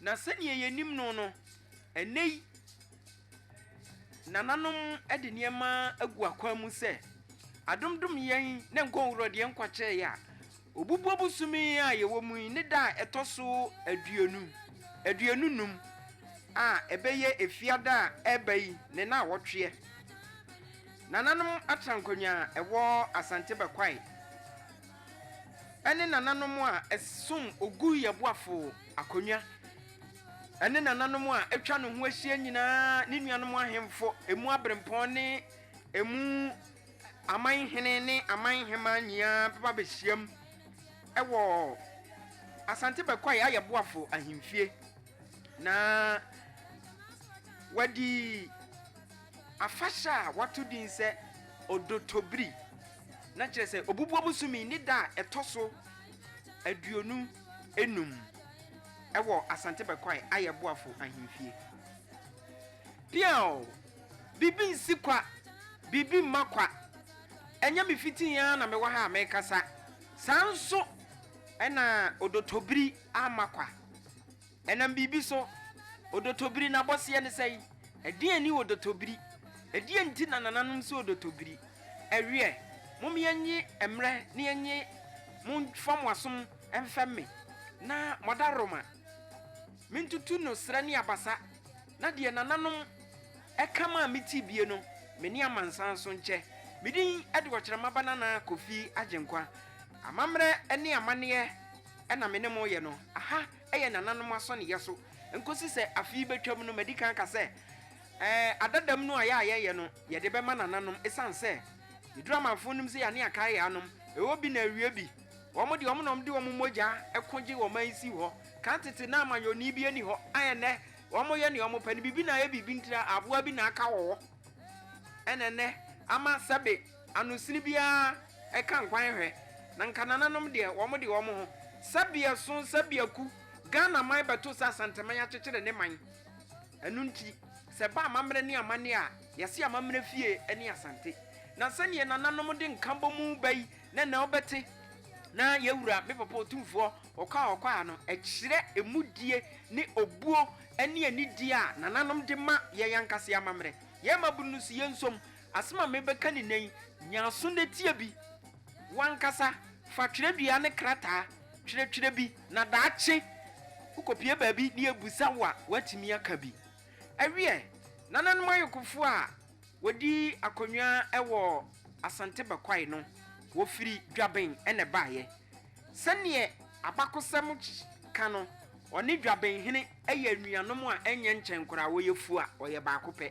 Na sɛnea yenim no no, ɛnnɛyi nananom de nneɛma agu akwan mu sɛ, Adom dom yɛn na nkwa nwura deɛ nkwa kyɛɛ yɛ a, obubuo bosome a yɛwɔ mu yi ne da a ɛtɔ so aduonu, aduonu num, a ɛbɛyɛ Efiada a ɛreba yi ne naawɔtweɛ. Nananom atrankonnwa a ɛwɔ Asante Bakwae ne nananom a ɛsom Ogu Yɛboafo Akonnwa. Ɛne nananom a atwa ne ho ahyia nyinaa, ne nuanom ahemfo, emu abirempɔn ne emu aman hene ne aman hemmaa nyinaa bɛba abɛhyiam wɔ Asante Bɛkwae ayɛ Boafo ahemfie na wɔadi afahyɛ a wɔato din sɛ Odotobiri, na kyerɛ sɛ Obubuabosome ne da a ɛtɔ so aduonu. enum wɔ Asante Bɛkwae ayɛ Boafo Ahemfie. Piaww! Biribi nsi kwa, biribi mma kwa. Ɛnyɛ me fitii ara na mewɔ ha a merekasa, saa ara nso na Odotobiri amma kwa. Ɛnam biribi so. Odotobiri, n'abɔseɛ ne sɛn? Ɛdeɛn ne odotobiri? Ɛdeɛn nti na nananom sɛ odotobiri? Ɛweɛ, mom yɛnye mmerɛ na yɛnye mo mfa mo asom mfɛm me, na mo adaworoma mentutu no serɛ ne abasa, na deɛ nananom ɛka maa metee bie no, me ne amansan nso nkyɛ. Me din de Ɔkyerɛma Ba Nana Kofi Agyenkwa. Amammerɛ ne amanneɛ na me ne mo reyɛ no, aha yɛ nananom asɔneyɛ so nkosi sɛ afe yi betwam no, madi kan aka sɛ, Ɛɛ, adadam no a yɛ a yɛyɛ no, yɛde bɛma nananom. Esiane sɛ Yeduru Amanfo nim sɛ yɛn ani aka yɛ anom, ɛwɔ bi na awie bi. Wɔn de, wɔn na wɔde wɔn mogya ko gyee ɔman yi sii hɔ. Kan tete na amanyɔni bi nni hɔ, a ɛnnɛ wɔyɛ nea wɔpɛ no. Biribi na ayɛ biribi nti na aboa bi na aka wɔ hɔ, ɛna ɛnnɛ ama sɛbe. Ano sini biara ɛka nkwan hwɛ na nka nananom deɛ wɔn de wɔn ho sa biaso sa biaku Ghana man bɛto sɛ Asanteman akyekyere ne man ɛno nti sɛ ɛba amammerɛ ne amanneɛ a yɛse amammerɛ fie ne Asante na sɛdeɛ nananom de nka bɔ mu ba yi na ɛnɛ wo bɛte na yɛwura me papa Otumfoɔ Ɔkwaa Ɔkwaa no ɛkyerɛ ɛmudie ne obuo ne anidie a nananom de ma yɛn ankasa yɛn amammerɛ yɛn mmabunu no so yɛn nsom Asɛm a merebɛka no nnɛ yi, nya aso na tie bi. W'ankasa, fa twerɛdua ne krataa twerɛtwerɛ bi, na daakye wokɔpue baabi na yɛbisa wo a, woatumi aka bi. Ɛwiɛ, nananom ayɔkofoɔ a wɔdi akonnwa wɔ Asante Bakwae no, wɔfiri Dwaben na ɛbaeɛ. Sɛdeɛ abakɔsɛm ka no, wɔne Dwabenhene yɛ anuanom a ɛnyɛ nkyɛn koraa, wɔyɛ fua, wɔyɛ baako pɛ.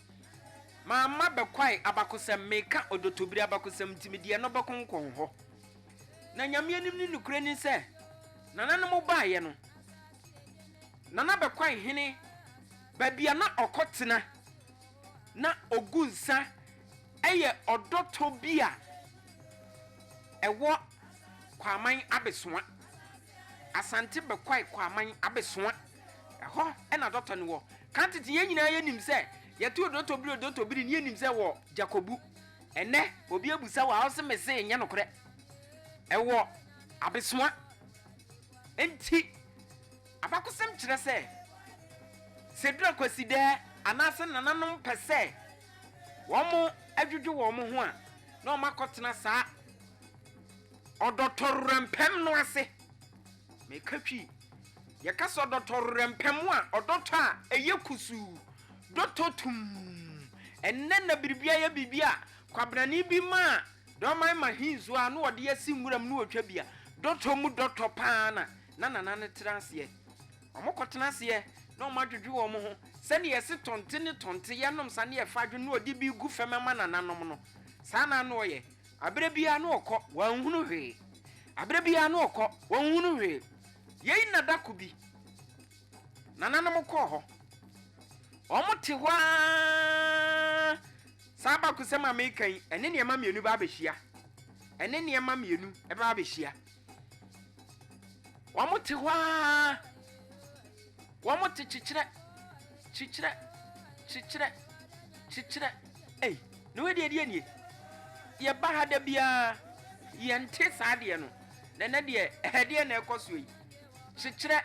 Mamma bɛkwae abakɔsɛm, meka ɔdɔtɔbiri abakɔsɛm nti mede ɛno bɛkonkɔn hɔ. Na Nyame anim ne nokorɛ ni sɛ, nananom baeɛ no, Nana bɛkwae hene baabi a na ɔkɔ tena, na ɔgu nsa yɛ ɔdɔtɔ bi a ɛwɔ Kwaman Abesoa. Asante bɛkwae kwaman abesoa. Ɛhɔ na dɔtɔ no wɔ. Kan tete yɛn nyinaa yɛ nim sɛ yɛtoo dɔtɔ biri o dɔtɔ biri ne yɛ nim sɛ wɔ Jakobu. Ɛnɛ obi abusa wɔ ha ɔse mese nyɛ nokorɛ. Ɛwɔ abesoa. Enti abakosɛm kyerɛ sɛ Sedura Kwasidɛɛ anaase nananom pɛ sɛ wɔn dwodwo wɔn ho a na wɔn akɔ tena saa Ɔdɔtɔwrɛmpɛm no ase. Meka twi. Yɛka sɛ ɔdɔtɔwrɛmpɛm a, ɔdɔtɔ a ɛyɛ kusuu, dɔtɔ tumm. Ɛnnɛ na biribi ayɛ biribi a, kwabenani bi ma a, deɛ ɔman ma he nsuo a, na ɔde asi nwura mu na ɔtwa bi a, dɔtɔ mu dɔtɔ pa ara na na nana no tena aseɛ. Wɔkɔtena aseɛ na wɔadwodwo wɔn ho sɛdeɛ yɛse tɔnte ne tɔnte, yɛnom sa ne yɛfa adwo na ɔde bi gu fam ma nananom no, saa na na ɔyɛ. Aberɛ biara na ɔkɔ, wanhunu hwee. Aberɛ biara na ɔkɔ, wanhunu hwee. Yei na da ko bi, nananom kɔɔ hɔ. Wɔte hɔ ara, saa abakosɛm a mereka yi, ɛne nneɛma mmienu bɛabɛhyia. Ɛne nneɛma mmienu bɛabɛhyia. Wɔte hɔ ara, wɔte kyekyerɛ, kyekyerɛ, kyekyerɛ, kyekyerɛ. Ei, na wei deɛ deɛ nie? Yɛba ha da biara, yɛnte saa deɛ no. Na ɛnɛ deɛ, ɛdeɛ na ɛkɔ soɔ yi. Kyekyerɛ,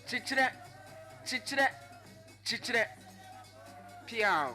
kyekyerɛ, kyekyerɛ, kyekyerɛ. Piaw.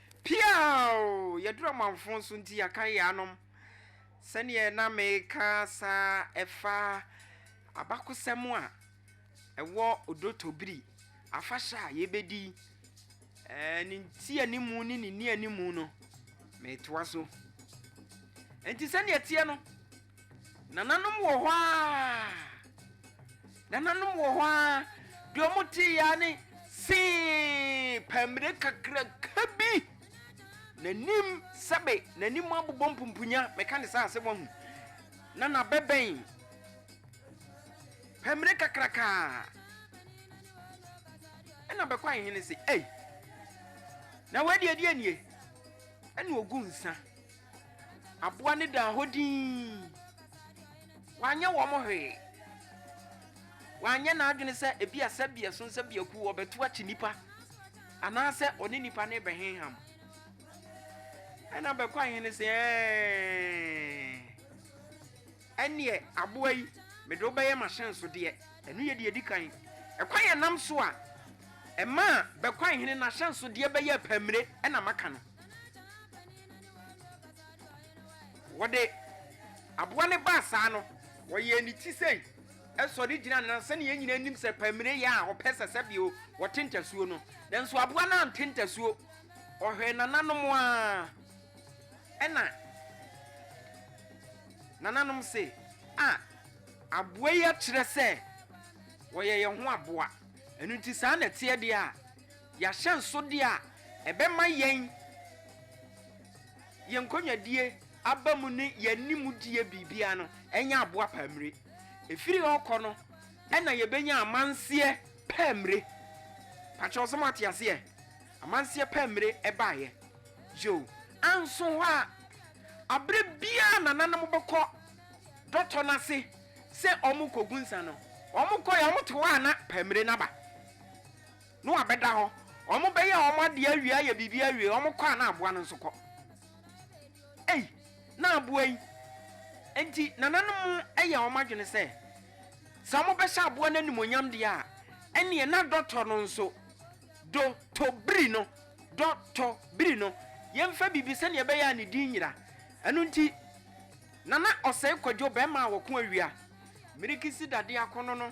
Piaaww! Yɛduru amanfo so nti yɛakan yɛn anom. Sɛdeɛ na mereka asa ɛfa abakosɛm a ɛwɔ Odo Tobiri afahyɛ a yɛbɛdi ɛɛ ne ntianimu ne ne nnianimu no, meretoa so. Enti sɛdeɛ ɛteɛ no, Nananom wɔ hɔ ara, nananom wɔ hɔ ara, deɛ wɔn te ya ne see pɛmire kakraka bi, n'anim sɛbe n'anim abobɔ mpumpunya, mɛka ne saa asɛm ahu, na n'abɛbɛn pɛmire kakraka. Ɛna bɛkɔ ahene se, ei, na wei deɛ ɛdeɛ nie? Ɛna ogu nsa. Aboa no daa hɔ dinn. Wanyɛ wɔn hwee. Wanyɛ n'adwene sɛ ebia sɛbeɛ so sɛbeɛ kuo ɔbɛto akyi nnipa anaasɛ ɔne nnipa no rebɛhenham. Ɛnna Bɛkwae Hene se, Ɛɛɛɛɛ! Ɛnneɛ, aboa yi, mede wo bɛyɛ m'ahyɛnsodeɛ. Ɛno yɛ deɛ ɛdi kan. Ɛkwan a ɛnam so a ɛmaa Bɛkwae Hene n'ahyɛnsodeɛ bɛyɛɛ pɛmmire na maka no. Wɔde aboa no baa saa no, wɔyɛɛ ne ti sei, ɛsɔre gyina na sɛnea yɛn nyinaa nim sɛ pɛmire yɛ a ɔpɛ sɛ sɛ bio wɔte ntasuo no, nanso aboa no ante ntasuo, ɔhwɛɛ nananom a ɛna nananom se, a aboa yi akyerɛ sɛ ɔyɛ yɛn ho aboa, ɛno nti saa na ɛteɛ deɛ a. Y'ahyɛnsodeɛ a ɛbɛma yɛn yɛn nkɔnwadie aba mu ne yɛn animdie biribiara no ɛnyɛ aboa paa mmire. Ɛfiri hɔ rekɔ no ɛna yɛbɛnya amanseɛ paa mmire. Pakyɛw sɛ moate aseɛ? Amanseɛ paa mmire ɛbaeɛ. Yoo, anso hɔ a aberɛ biara nananom bɛkɔ dɔtɔ no ase sɛ wɔrekɔgu nsa no, wɔkɔeɛ a wɔte hɔ a na paa mmire no aba. No abɛda hɔ ɔmo bɛyɛ ɔmo adeɛ awie ayɛ biribi awie ɔmo kɔ a na aboa no nso kɔ ei na aboa yi nti nananom yɛ ɔmo adwene sɛ sɛ ɔmo bɛhyɛ aboa no animonyam deɛ a ɛneɛ na dɔtɔ no nso do tɔ biri no dɔ tɔ biri no yɛnfa biribi sɛdeɛ ɛbɛyɛ a ne din nyira ɛno nti nana ɔsɛe kwadwo bɛɛma a wɔko awia mirikisi dadeɛ akono no.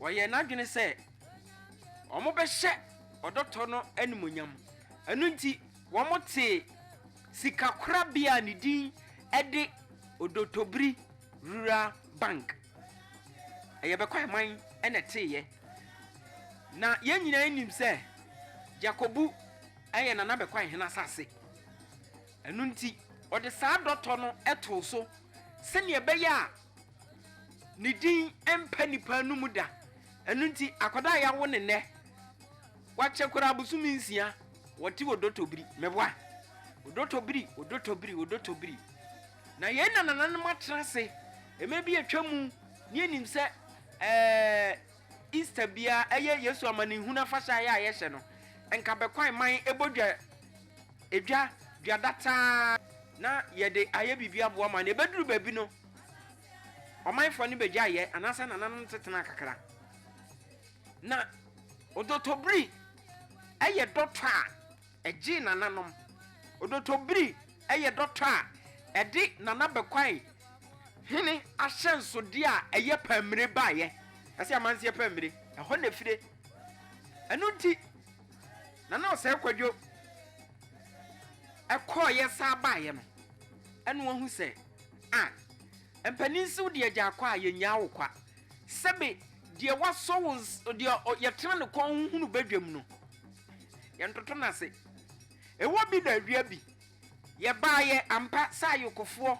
Ɔyɛɛ n'adwene sɛ wɔbɛhyɛ ɔdɔtɔ no animuonyam. Ɛno nti, wɔtee sikakorabea a ne din de Odotobiri Rural Bank. Ɛyɛ Bɛkwaiman na ɛteeɛ. Na yɛn nyinaa nim sɛ Dzakobu yɛ Nana Bɛkwaihen asase. Ɛno nti, ɔde saa dɔtɔ no too so sɛdeɛ ɛbɛyɛ a Ne din mpa nnipa no mu da. Ɛno nti, akwadaa a yɛawo ne nnɛ, wakyɛ koraa bosome nsia, wɔte odotobiri. Meboa? Odotobiri, odotobiri, odotobiri. Na yɛn nanananom atena ase mmerɛ bi atwa mu, ne yɛnim sɛ ɛɛ. Easter biara ɛyɛ Yesu amanehunu afahyɛ a yɛ a yɛhyɛ no nka bɛkwae man ɛbɔ dwa ɛdwa dwa dataa na yɛde ayɛ biribi aboa man no ɛbɛduru baabi no ɔmanfoɔ no bɛgyae yɛ anaasɛ nananom tetena kakra na ɔdɔtɔbiri ɛyɛ dɔtɔ a Ɛgyee nananom. Odotobiri yɛ dɔtɔ a ɛde Nana Bɛkwae hene ahyɛnsodeɛ a ɛyɛ pammire baeɛ. Ɛse amanseɛ pammire. Ɛhɔ na ɛfire. Ɛno nti Nana Ɔsɛe Kwadwo kɔeɛ san baeɛ no, ɛna wahu sɛ, Ah, mpanin se wo deɛ gya akwa a, yɛnnyaa wo kwa. Sɛbe deɛ wasɔ wo, deɛ yɛtena ne kɔn ho hunu badwam no, Yɛntoto no ase. Ɛwɔ bi na awia bi, yɛbaeɛ ampa sɛ ayokofoɔ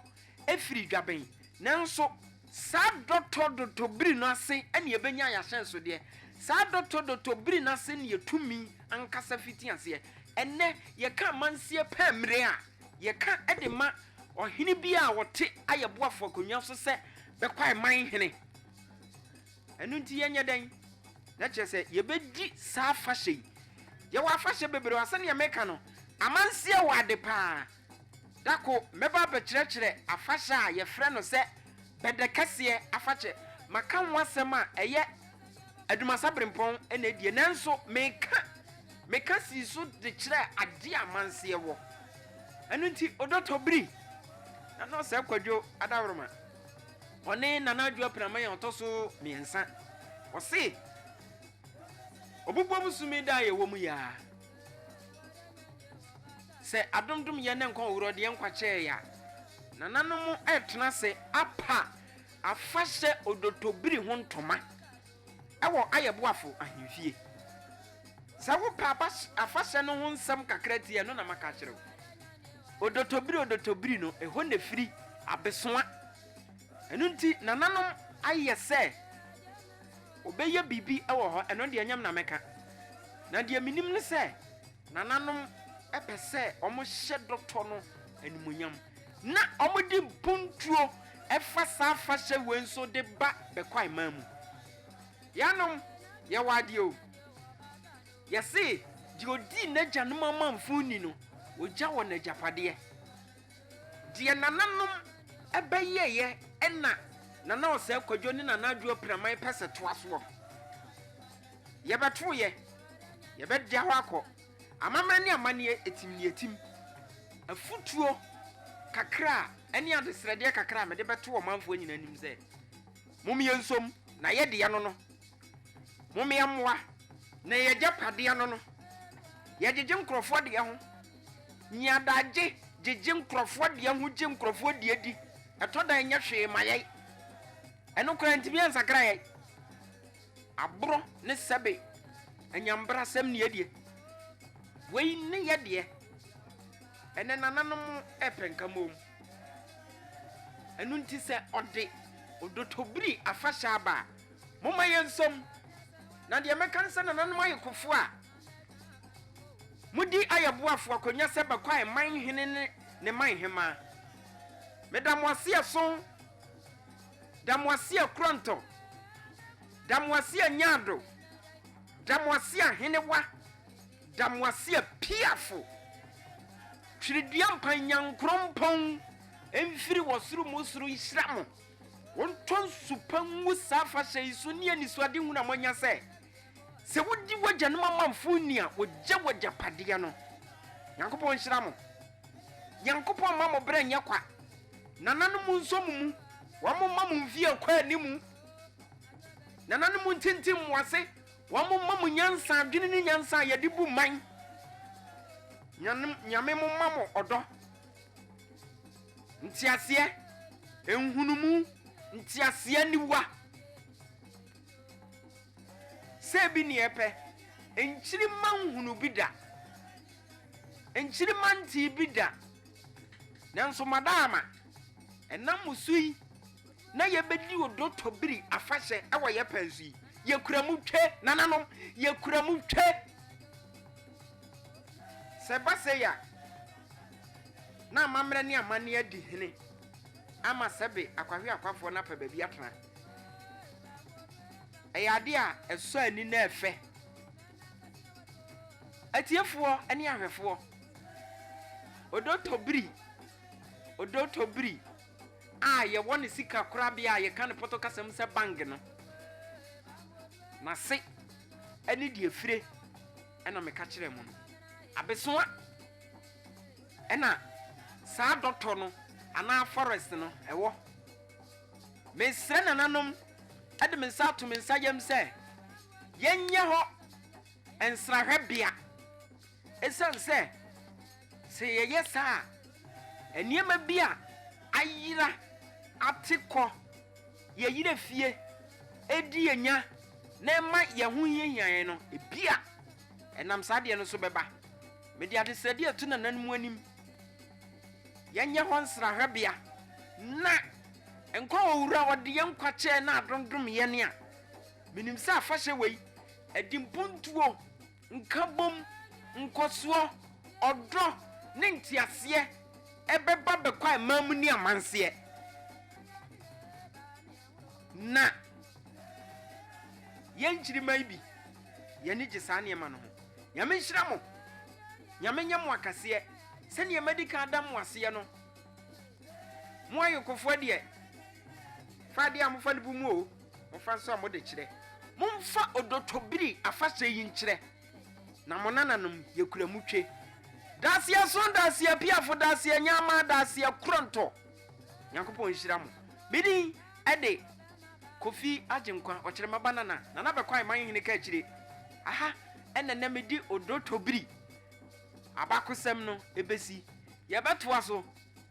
firi Dwaben, nanso saa dɔtɔ dɔtɔ biri no ase na yɛbɛnya yɛn ahyɛnsodeɛ. Saa dɔtɔ dɔtɔ biri no ase na yɛn tumi ankasa fiti aseɛ. Ɛnnɛ, yɛka amansie pɛ mmerɛ a, yɛka de ma ɔhene biara a ɔte ayɛboafo akonnwa so sɛ Bɛkwae man hene. Ɛno nti yɛnyɛ dɛn na kyerɛ sɛ yɛbɛdi saa afahyɛ yi? Yɛwɔ afahyɛ bebree a sɛdeɛ meka no, amanseɛ wɔ ade pa ara. Da ko mɛba abɛkyerɛkyerɛ afahyɛ a yɛfrɛ no sɛ Bɛdɛkɛseɛ afakyɛ. Maka ho asɛm a ɛyɛ Adumasa Berempɔn na ɛdie nanso meka meka sii so de kyerɛ adeɛ a amanseɛ wɔ. Ɛno nti Odɔtɔ Biri na Nɔɔsɛ Kwadwo Adaworoma. Ɔne Nana Adwo Apenama yɛ ɔtɔ so mmiɛnsa. Ɔse, Ɔbobom sum yi da a yɛwɔ mu yi ara, sɛ adom dom yɛn na nkwa ɔwerɛ ɔde yɛn nkwa kyɛɛ yɛn a, nananom retena ase apa afahyɛ odotobiri ho ntoma. wɔ ayɛ boafo ahemfie. Sɛ wopɛ aba afahyɛ no ho nsɛm kakra ti a, ɛno na maka akyerɛ wo. Odotobiri odotobiri no, ɛhɔ na ɛfiri, abesoa. Ɛno nti, nananom ayɛ sɛ wɔbɛyɛ biribi wɔ hɔ, ɛno deɛ ɛnyɛ me na mɛka. Na deɛ menim ne sɛ. Nananom pɛ sɛ wɔhyɛ dɔtɔ no animuonyam, na wɔde mpuntuo fa saa afahyɛ wei nso de ba bɛkwaemaa mu. Yɛanom, yɛwɔ adeɛ o. Yɛse, deɛ ɔdii n'agyanom amamfo ni no, ɔgya wɔ n'agyapadeɛ. Deɛ nananom bɛyɛeɛ na Nana Ɔsɛe Kwadwo ne Nana Adwoa Piraman pɛ sɛ toa soɔ no. Yɛbɛtow yɛ, yɛbɛda hɔ akɔ. Amammerɛ ne amanneɛ etim ne etim. Afutuo kakra a ne adesrɛdeɛ kakra a mede bɛto ɔmanfoɔ nyinaa anim sɛ, Mommyɛ nsom na ɛyɛ deɛ no no. Mommyɛ mmoa na ɛyɛ agyapadeɛ no no. Yɛgyegye nkorɔfoɔ deɛ ho. Nya adagye gyegye nkorɔfoɔ deɛ ho gye nkorɔfoɔ deɛ di. Ɛtɔ da a ɛnyɛ hwee ma yɛn. Ɛno koraa ntumi ansakra yɛn. Aborɔ ne sɛbe anyambrasɛm ne yɛdeɛ. Wei ne yɛdeɛ. Ɛnɛ nananom repɛ nkamom. Ɛno nti sɛ ɔde Odotobiri afahyɛ aba a, momma yɛnsɔm. Na deɛ mɛka ne sɛ nananom ayekofoɔ a modi ayɛboafo akonnwa sɛ Bakwai man hene ne ne man hemaa, meda mo ase ɛso. Damoasia Kurɔntɔ, Damoasia Nyaado, Damoasia Henewa, Damoasia Piafo, Twiridua Mpan Nyankoropɔn mfiri wɔ soro mu soro nhyira mo, wontɔ nsu pa ngu saa afahyɛ yi so ne anisoade hunu a moanya sɛ, sɛ wodi w'agyanom amanfo nni a wogye w'agyapadeɛ no. Nyankopɔn nhyira mo. Nyankopɔn mma mo berɛ nyɛ kwa. Nananom nso mo mu, wɔn mma mo mfie ɛkɔ anim. Nananom ntintim mo ase, wɔn mma mo nyansa, adwene ne nyansa a yɛde bu man. Nyanom, Nyame mo mma mo ɔdɔ, nteaseɛ, nhunumu, nteaseɛ aniwa. Sɛ ebi neɛ ɛpɛ, nkyirima nhunu bi da, nkyirima ntee bi da, Nanso madaama ɛnam mo so yi na yɛbɛdi Odotɔbiri afahyɛ wɔ yɛ pɛn so yi. Yɛkura mu twe, nananom, yɛkura mu twe. Sɛ ɛba sei a, na amammerɛ ne amanneɛ adi hene ama sɛbe akwahweakwafoɔ no apɛ baabi atena. Ɛyɛ adeɛ a ɛsɔ ani na ɛfɛ. Atiefoɔ ne ahwɛfoɔ, Odotobiri, Odotobiri a yɛwɔ no sika korabea a yɛka no Pɔtɔ kasa mu sɛ bank no, n'ase ne deɛ efire ɛna meka kyerɛɛ mo no. Abesoa ɛna saa dɔtɔ no anaa forest no ɛwɔ. Mesrɛ nananom de me nsa ato me nsa yam sɛ yɛnyɛ hɔ nsrahwɛbea Esiane sɛ sɛ yɛyɛ saa a, nneɛma bi a ayera ate kɔ yɛn yere fie di yɛn nya na ɛma yɛn ho hiahia yɛn no, ebia ɛnam saa adeɛ no so bɛba. Mede adesrɛdeɛ reto nananom anim, Yɛnyɛ hɔ nsrahwɛbea, na nkwa a Owura a ɔde yɛn nkwa kyɛɛ no adondom yɛn a, menim sɛ afahyɛ wei, ɛde mpuntuo, Nkabom, nkɔsoɔ, ɔdɔ ne nteaseɛ bɛba bɛkɔ aman mu ne amanseɛ, na yɛn nkyirimma yi bi, yɛn ani gye saa nneɛma no ho. Nyame nhyira mo, Nyame nyɛ mo akɛseɛ, sɛdeɛ madi kan ada mo aseɛ no, mo ayɔkofoɔ deɛ, fa adeɛ a mofa no bu mu o, Momfa nsa a mode kyerɛ. Momfa odotobiri afahyɛ yi nkyerɛ na mo nananom yɛ kuramutwe. Daseɛ so, daseɛ piafo, daseɛ nyama, daseɛ korɔntɔ. Nyankopɔn nhyira mo. Me din de Kofi Agyenkwa, Ɔkyerɛma ba Nana, Nana Bɛkwae Manhene Kaakyire. Aha na nnɛ mede odotobiri abakosɛm no bɛsi. Yɛbɛtoa so